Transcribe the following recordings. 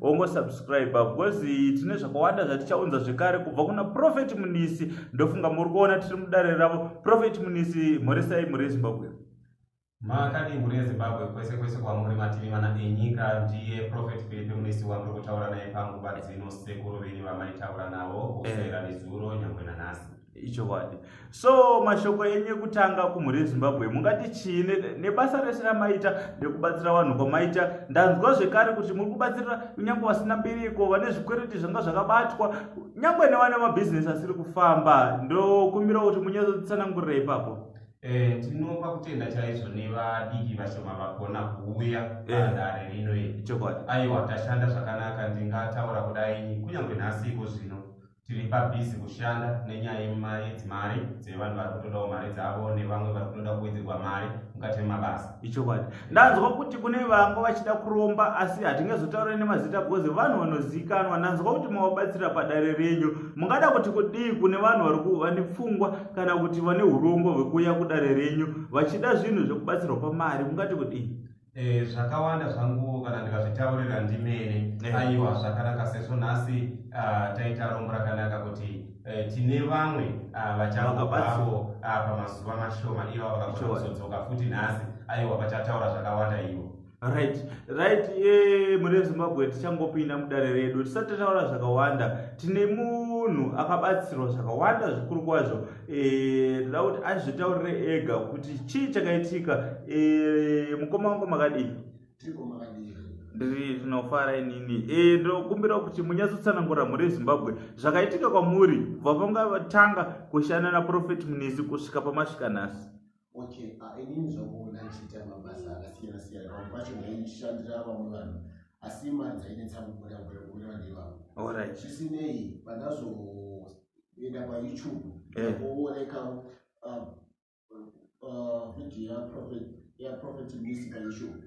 wongosubscribe because tine zvakawanda zvatichaunza zvekare kubva kuna profet munisi ndofunga muri kuona tiri mudare ravo profet munisi mhoresai mhuri yezimbabwe makadii mhuri yezimbabwe kwese kwese kwamuri mativi mana enyika ndiye profet filipe munisi wamuri kutaura naye panguva dzino sekuru venyu vamaitaura navo kusera eh. nezuro nyangwe nanhasi ichokwadi so mashoko enyu ekutanga kumhuri yezimbabwe mungati chii nebasa rese ramaita nekubatsira vanhu kwamaita ndanzwa zvekare kuti muri kubatsirira kunyange vasina mbiriko vane zvikwereti zvanga zvakabatwa nyange nevane mabhizinesi asiri kufamba ndokumbira kuti munyatsotsanangurira ipapo Eh, tinopa kutenda chaizvo nevadiki vashoma vagona kuuya eh. padare rino iri aiwa tashanda zvakanaka ndingataura kudai kunyange nhasi iko zvino tiri pabhizi kushanda nenyaya yedzimari dzevanhu vari kutodawo mari dzavo nevamwe vari kutoda kuwedzerwa mari mukati memabasa ichokwadi ndanzwa kuti kune vanga vachida kuromba asi hatingazotaure nemazita bcause vanhu vanozivikanwa ndanzwa kuti mavabatsira padare renyu mungada kuti kudii kune vanhu vari vane pfungwa kana kuti vane urombo hwekuuya kudare renyu vachida zvinhu zvekubatsirwa pamari mungati kudii eh, zvakawanda zvangu kana ndikazvitaurira ndimene eh. aiwa zvakanaka sezvo nhasi ah, taita rombo rakanaka kuti eh, tine vamwe ah, vachangovapo ah, pamazuva mashoma ivo vakakona kuzodzoka futi nhasi aiwa vachataura zvakawanda ivo right right eh, mune zimbabwe tichangopinda mudare redu tisati taura zvakawanda tine munhu akabatsirwa zvakawanda zvikuru kwazvo Eh, ndoda kuti azvitaurire ega kuti chii chakaitika eh, mukoma wangu makadii ndiri tinofara inini eh, ndokumbira kuti munyatsotsanangura mhuri yezimbabwe zvakaitika kwamuri kubva pamatanga kushanda naprofeti munisi kusvika pamasvika nhasi okay ah, inini zvakuona ndichiita mabasa akasiyana siyana pamwe pacho ndaishandira vamwe vanhu asi mari dzainetsa kubuda kubuda vandivavo zvisinei pandazoenda payoutube eh. kuoneka ah, ah, video yaprofet musica youtube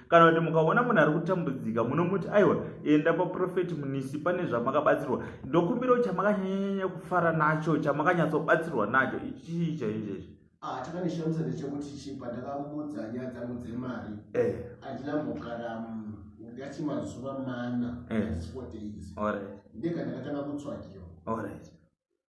kana kuti mukaona munhu ari kutambudzika munomuti aiwa enda paprofeti munisi pane zvamakabatsirwa ndokumbira kuti chamakanyanyanya kufara nacho chamakanyatsobatsirwa nacho ichii chaicho ichi ah, chakanishamisa ndechekuti chi pandakamuudza nyaya dzangu dzemari eh. handina mbogara mm, ndati mazuva mana eh. four days ndeka ndakatanga kutsvakiwa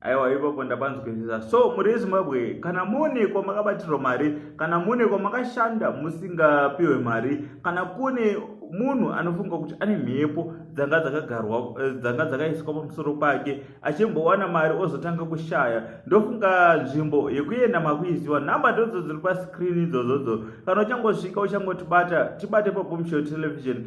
aiwa ipapo ndapanzwisisa so muri zimbabwe kana mune kwamakabatirwa mari kana mune kwamakashanda musingapiwe mari kana kune munhu anofunga kuti ane mhepo dzanga dzakagarwa eh, dzanga dzakaiswa pamusoro pake achimbowana mari ozotanga kushaya ndofunga nzvimbo yekuenda makuiziwa nhamba ndodzo dziri paskrini idzozodzo kana uchangosvika uchangotibata tibate pabombshel television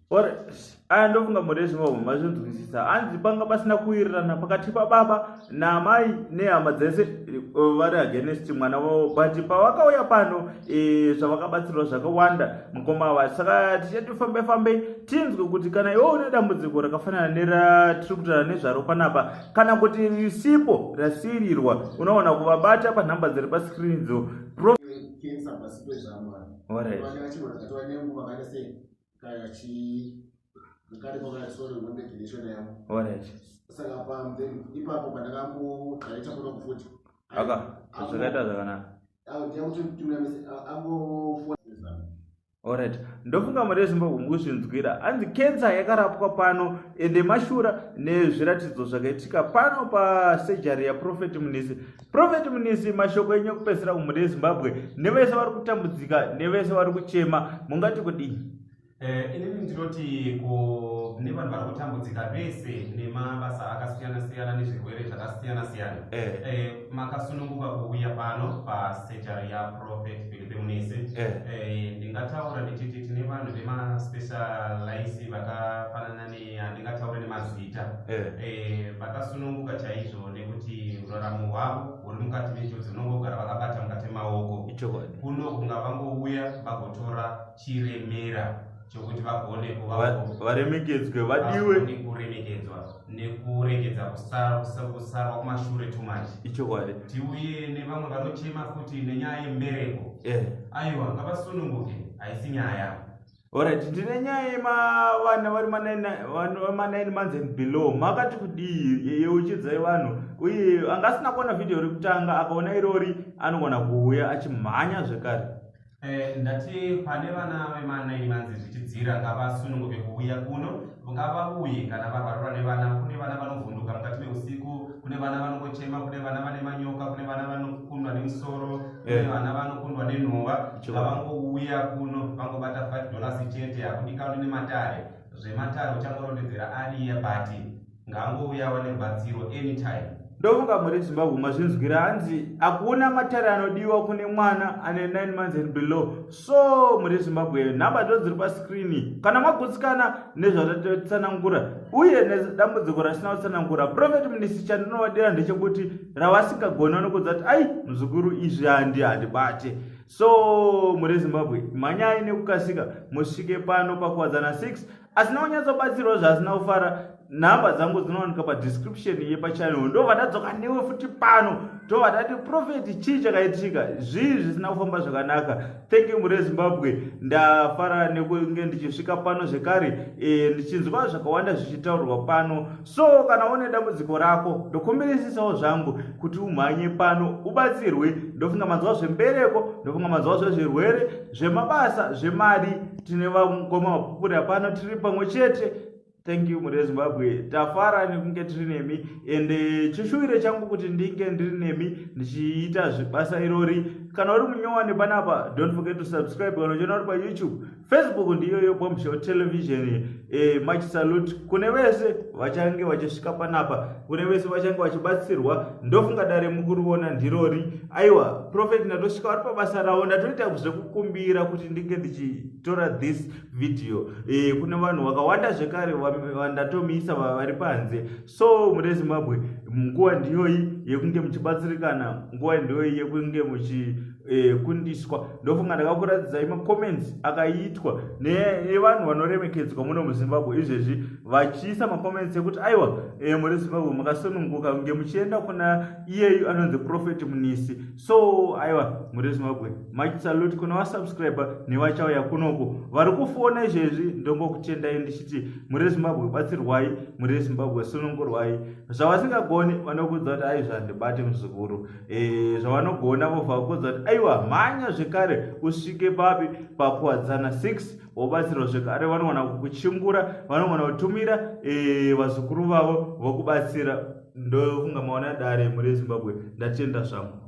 aya ndofunga murezi vavo mazvinzwisisa hanzi panga pasina kuwirirana pakati pababa naamai nehama dzese eh, vari against mwana vavo but pavakauya pano eh, zvavakabatsirwa zvakawanda mukoma ava saka tichati fambe fambe tinzwe kuti kana iwo une dambudziko rakafanana neratiri kutaura nezvaro panapa kana kuti risipo rasirirwa unoona kuvabata panhamba dziri paskrini dzo Pro... Cancer, zvakaita zvakanaka orit ndofunga mari yezimbabwe mukuzvinzwira hanzi kensa yakarapwa pano ende mashura nezviratidzo zvakaitika pano pasejari yaprofeti munisi Prophet Munisi, mashoko enyu ekupedzisira kumhuri yeZimbabwe nevese vari kutambudzika nevese vari kuchema mungati kudii? Eh, inini ndinoti kune vanhu vari kutambudzika vese nemabasa akasiyana siyana nezvirwere zvakasiyana siyana eh. eh, makasununguka kuuya pano pasejari yaProphet Philipe Munisi ndingataura ndichiti tine vanhu vemaspecialise vakafanana ne eh, handingataure nemazita eh. eh, vakasununguka chaizvo nekuti uraramo hwavo huri mukati menjodzi unongogara vakabata mukati maoko kuno kunga vangouya vagotora chiremera chokuti vagone kuvavaremekedzwe vadiwe kuremekedzwa nekuregedza kusarwa kumashure too much ichokwadi tiuye nevamwe vanochema futi nenyaya yembereko eh. aiwa ngavasununguke haisi nyaya Alright, ndine nyaya yemavana vari manaini months and below makati kudii yeuchidzai vanhu uye anga asina kuona vhidhiyo rekutanga akaona irori anogona kuuya achimhanya zvekare eh, ndati pane vana vemanaini months zvichidzira ngavasununguke kuuya kuno vangava uye kana vavharura nevana kune vana vanovhunduka mukati meusiku kune vana vanongochema kune vana vane manyoka kune vana vanokundwa nemusoro kune eh. vana vanokundwa nenhova vavangouya kuno vangobata 5 dollars chete hakudikani nematare zvematare uchangorondedzera ariye but ngaangouyawa nerubatsiro anytime ndofunga muri zimbabwe mazvinzwira hanzi hakuna matare anodiwa kune mwana ane 9 months and below so muri zimbabwe nhamba ndo dziri pascreeni kana magutsikana nezvatatsanangura uye nedambudziko rasina kutsanangura profet munisi chandinovadira ndechekuti ravasingagoni vanokudza kuti ai muzukuru izvi handi handibate so muri zimbabwe mhanyai nekukasika musvike pano pakuwadzana 6 asina kunyatsobatsirwa zvaasina kufara nhamba dzangu dzinowanika padescription yepachannel ndo vatadzoka newe futi pano to vatati profeti chii chakaitika zvii zvisina kufamba zvakanaka thank you mure zimbabwe ndafara nekunge ndichisvika pano zvekare e, ndichinzwa zvakawanda zvichitaurwa pano so kana une dambudziko rako ndokumbirisisawo zvangu kuti umhanye pano ubatsirwe ndofunga mazuva zvembereko ndofunga mazuva zvezvirwere zvemabasa zvemari tine vangoma mapupuri apano tiri pamwe chete thank you mhuri yezimbabwe tafara nekunge tiri nemi and eh, chishuwiro changu kuti ndinge ndiri nemi ndichiita zvibasa irori kana uri munyowani panapa don't forget to subscribe kana uchiona uri payoutube Facebook ndiyoyo Bombshell Television. E, much salute kune vese vachange vachisvika panapa, kune vese vachange vachibatsirwa. Ndofunga dare mukuriona ndirori. Aiwa, Prophet ndatosvika vari pabasa ravo, ndatoita zvekukumbira kuti ndinge ndichitora this video. E, kune vanhu vakawanda zvekare vandatomiisa vari panze. so mune zimbabwe nguva ndiyoyi yekunge muchibatsirikana nguva ndiyoyi yekunge muchikundiswa eh, e, ndofunga ndakakuratidzai macomments akaitwa nevanhu vanoremekedzwa muno muzimbabwe izvezvi vachiisa macomments ekuti aiwa e, eh, muri zimbabwe makasununguka kunge muchienda kuna iyeyu anonzi profeti munisi so aiwa mhuri yezimbabwe much salute kuna vasubscribe nevachauya kunoko vari kufona izvezvi ndongokutendai ndichiti mhuri yezimbabwe batsirwai mhuri yezimbabwe sunungurwai zvavasingagoni vanokuudza kuti aizvi handibati muzukuru eh, zvavanogona vobva vakuudza kuti aiwa mhanya zvekare usvike papi pakuwadzana 6 wobatsirwa zvekare vanogona kukuchingura vanogona kutumira eh, vazukuru vavo vokubatsira ndofunga maona dare mhuri yezimbabwe ndatenda zvangu